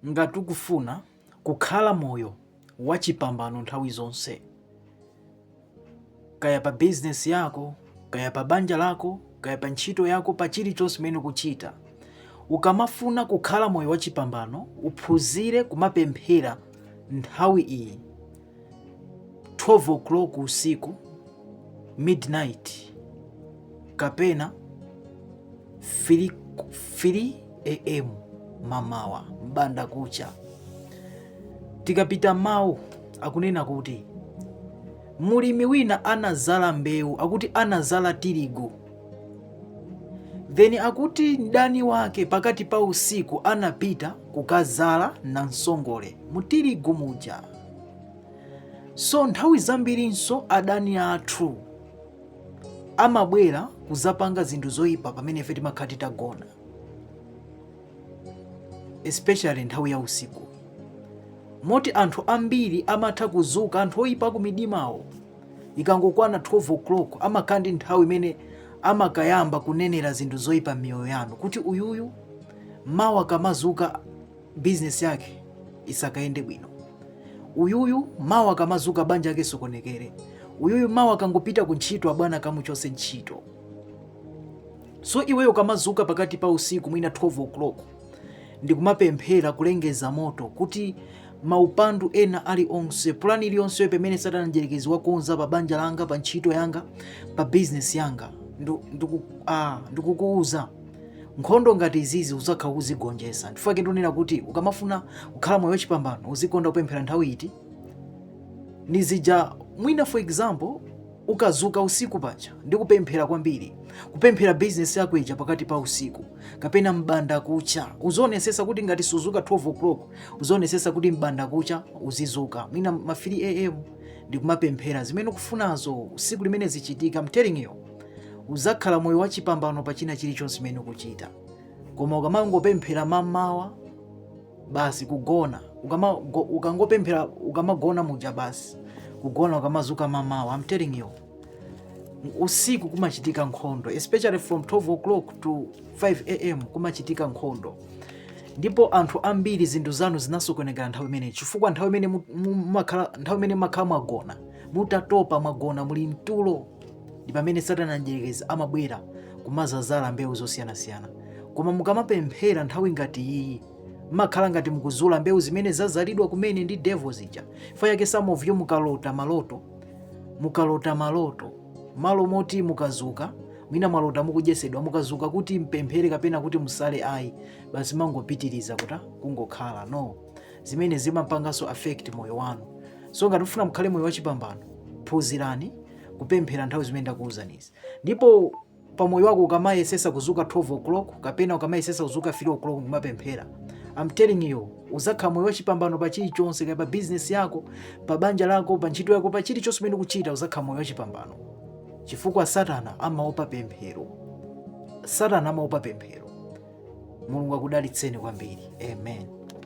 Ngati ukufuna kukhala moyo wachipambano nthawi zonse, kaya pa bizinesi yako, kaya pa banja lako, kaya pa ntchito yako, pa chilichonse chimene ukuchita, ukamafuna kukhala moyo wachipambano, uphunzire kumapemphera nthawi iyi. 12 o'clock usiku midnight kapena 3 am mamawa mbanda kucha tikapita mawu akunena kuti mulimi wina anazala mbewu akuti anazala tirigu then akuti mdani wake pakati pa usiku anapita kukazala nansongole mutirigu muja so nthawi zambirinso adani athu amabwera kuzapanga zinthu zoyipa pamene ife timakhala titagona especially nthawi ya usiku moti anthu ambiri amatha kuzuka anthu oyipa ku midimawo ikangokwana 12 o'clock amakhala ndi nthawi imene amakayamba kunenera zinthu zoyipa m'miyoyo yanu kuti uyuyu mawa akamazuka business yake isakayende bwino uyuyu mawa akamazuka banja lake lisokonekere uyuyu mawa akangopita ku ntchito abwana akamuchose ntchito so iweyo ukamazuka pakati pa usiku mwina 12 o'clock ndikumapemphera kulengeza moto kuti maupandu ena ali onse pulani iliyonse pamene satana mdyerekezi wakonza pa banja langa pa ntchito yanga pa bizinesi yanga ndikukuuza nkhondo ngati izizi uzakhala ukuzigonjesa ndichifukwa chake ndonena kuti ukamafuna kukhala moyo wachipambano uzikonda kupemphera nthawi iti izija mwina for example ukadzuka usiku paja ndi kupemphera kwambiri kupemphera bizinesi yako ija pakati pa usiku kapena mbanda kucha uzionesesa kuti ngati suzuka 12 o'clock uzionesesa kuti mbanda kucha uzizuka mwina ma 3 am ndi kumapemphera zimene ukufunazo usiku limene zichitika I'm telling you uzakhala moyo wachipambano pa china chilichonse chimene ukuchita koma ukamangopemphera mamawa basi kugona ukama, go, ukangopemphera ukamagona muja basi kugona ukamazuka mamawa I'm telling you usiku kumachitika nkhondo especially from 12 o'clock to 5 am kumachitika nkhondo ndipo anthu ambiri zinthu zanu zinasokonekera nthawi imeneyi chifukwa nthawi imene mumakhala mwagona mutatopa mwagona muli mtulo ndi pamene satana mdyerekezi amabwera kumazazala mbewu zosiyanasiyana koma mukamapemphera nthawi ngati iyi mmakhala ngati mukuzula mbewu zimene zazalidwa kumene ndi devil zija chifukwa chake some of you mukalota maloto mukalota maloto malo moti mukazuka mwina mwalota mukudyesedwa mukazuka kuti mupemphere kapena kuti musale ayi basi mmangopitiriza kuti kungokhala no zimene zimapanganso affect moyo wanu so ngati mufuna mukhale moyo wachipambano phunzirani kupemphera nthawi zimene ndakuwuzanizi ndipo pa moyo wako ukamayesesa kuzuka 12 o'clock kapena ukamayesesa kuzuka 3 o'clock kumapemphera I'm telling you uzakhala moyo wachipambano pa chilichonse kaya pa business yako pa banja lako pa ntchito yako pa chilichonse chimene ukuchita uzakhala moyo wachipambano chifukwa satana amaopa pemphero satana amaopa pemphero mulungu akudalitseni kwambiri amen